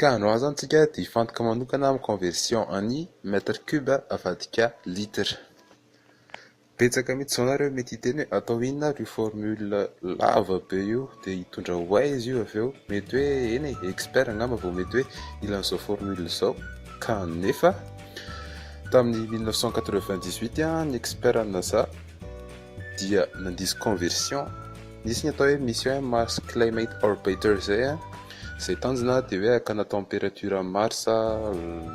Ka andro azo antsika dia hifantoka manokana amin'ny conversion an'i mètre cube avadika litre. Betsaka mihitsy izao nareo mety hiteny hoe atao inona ary io formule lava be io dia hitondra ho aiza io avy eo. Mety hoe eny e, expert angamba vao mety hoe hila an'izao formule izao. Ka nefa tamin'ny 1998 ny expert ny NASA. dia nandiso conversion nisy ny atao hoe mission hoe Mars Climate Orbiter zay a zay tanjona dia hoe hakana température an'i Mars a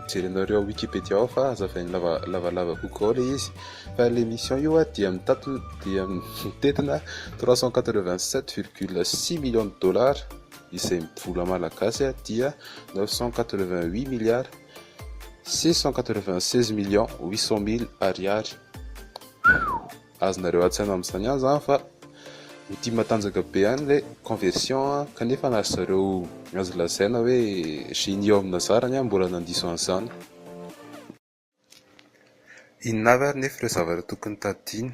jerenao ireo Wikipedia ao fa hazavain'ny lava lavalava kokoa ao le izy fa le mission io a dia mitatona dia mitentina 387 virgule 6 millions de dollars izay vola malagasy a dia 988 milliards Six cent quatre-vingt-seize millions huit cent mille ariary. Azonareo an-tsaina amin'izany ihany izany fa ho tia matanjaka be ihany ilay conversion kanefa na ry zareo azo lazaina hoe génie ao amin'ny nazarany ary mbola nandiso an'izany. Inona avy ary nefa ireo zavatra tokony tadidiana?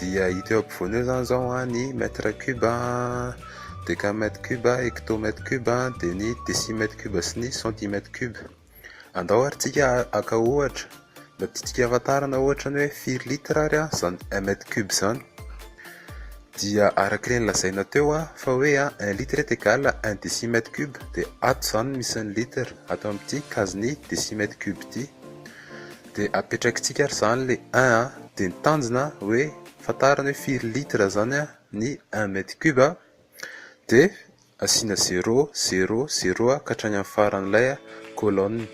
Dia hita eo ampovoany eo izany izao ny mètre cube, décamètre cube, hectomètre cube, dia ny décimètre cube sy ny centimètre cube. Andao ary tsika haka ohatra, mba tiantsika hahafantarana ohatra ny hoe firy litre ary izany un mètre cube izany. Dia araka ireny lazaina teo fa hoe un litre est égal à un décimètre cube dia ato izany no misy ny litre ato amin'ity kazin'ny décimètre cube ity. Dia apetrakitsika ary zany le un a, dia ny tanjona hoe fantarina hoe firy litre zany a ny un mètre cube a, dia asiana zéro, zéro, zéro ka hatrany amin'ny faran'ilay colonne,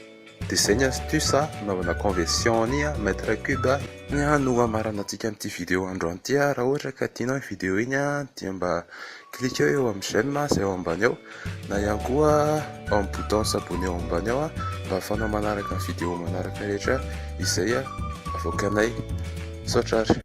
dia zay ny astuce a hanaovana conversion ny mètre cube a. Ny a no hamaranantsika amin'ity vidéo androany ity a, raha ohatra ka tianao iny vidéo iny a dia mba Cliqueo eo amin'ny j'aime izay eo ambany eo na ihany koa ao amin'ny bouton s'abonner eo ambany eo mba ahafahanao manaraka ny vidéo manaraka rehetra izay avoakanay. Misaotra ary.